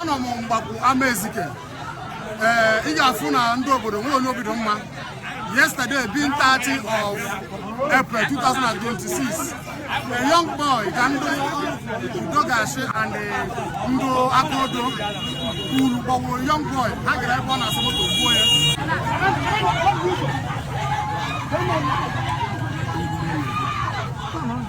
anọ m Mgbakwu Amaezike ee ị ga-afụ na ndị obodo nwero onye obi dị mma yesterday being 30 of April 2026 a young boy ka ndị Udogachi and ndị aka odo kwuru gbaworo young boy ha gara ebe ọ na-asa moto gbuo ya Come on.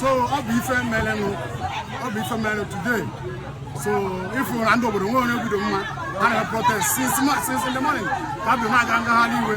so ọ bụ ife merenụ ọ bụ ife merenụ today so ị fụ na ndị obodo nwero onye obi dị mma ha na protest since ma- since in the morning ka bụ na-aga ngagharị iwe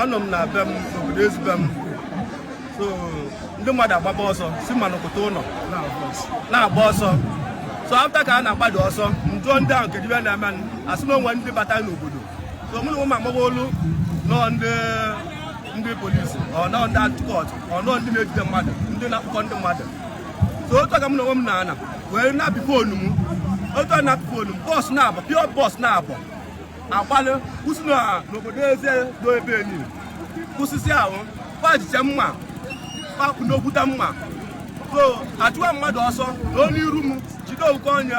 anọ m na be m obodo ezi be m so ndị mmadụ agbaba ọsọ si ma nọkọta ụnọ na-agba ọsọ so afta ka a na-agbado ọsọ m jụọ ndị ahụ kedu ife na-eme a sị na o nwe ndị bata n'obodo so mụ na onwe m amarọ olu nọ ndị ndị polisi ọ nọ ndị anti-cult ọ nọ ndị na-ejide mmadụ ndị na-akpọkọ ndị mmadụ so otu ka m na onwe m na-ana wee na-apị foonu m otu a na-apị foonu m bọs naabọ pịọ bọs naabọ agbalị kwụsị na n'obodo eze do ebe enyi kwụsịsịa ha pajiche mma kpakpụ n'okwuta mma so achụwa mmadụ ọsọ n'iru m jide otu onye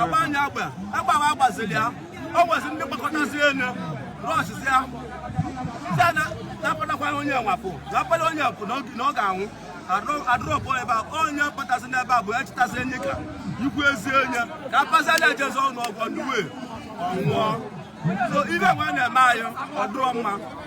agba ya egbe egbe ahụ a gbaziri ya o nwezi ndị kpọkọtazi elu rọchịzi ya site na napụtakwara onye nwapụ napụta onye pụ na ọ ga-anwụ adrọpụ ebe a onye kpọtazi n'ebe a bụ ya chịtazi enyi ka ikwu ezi enye ka apazala ejezi ụnọ ọgwụ ndị wee ọ nwụọ so ife nwa na-eme anyị ọ dịrọ mma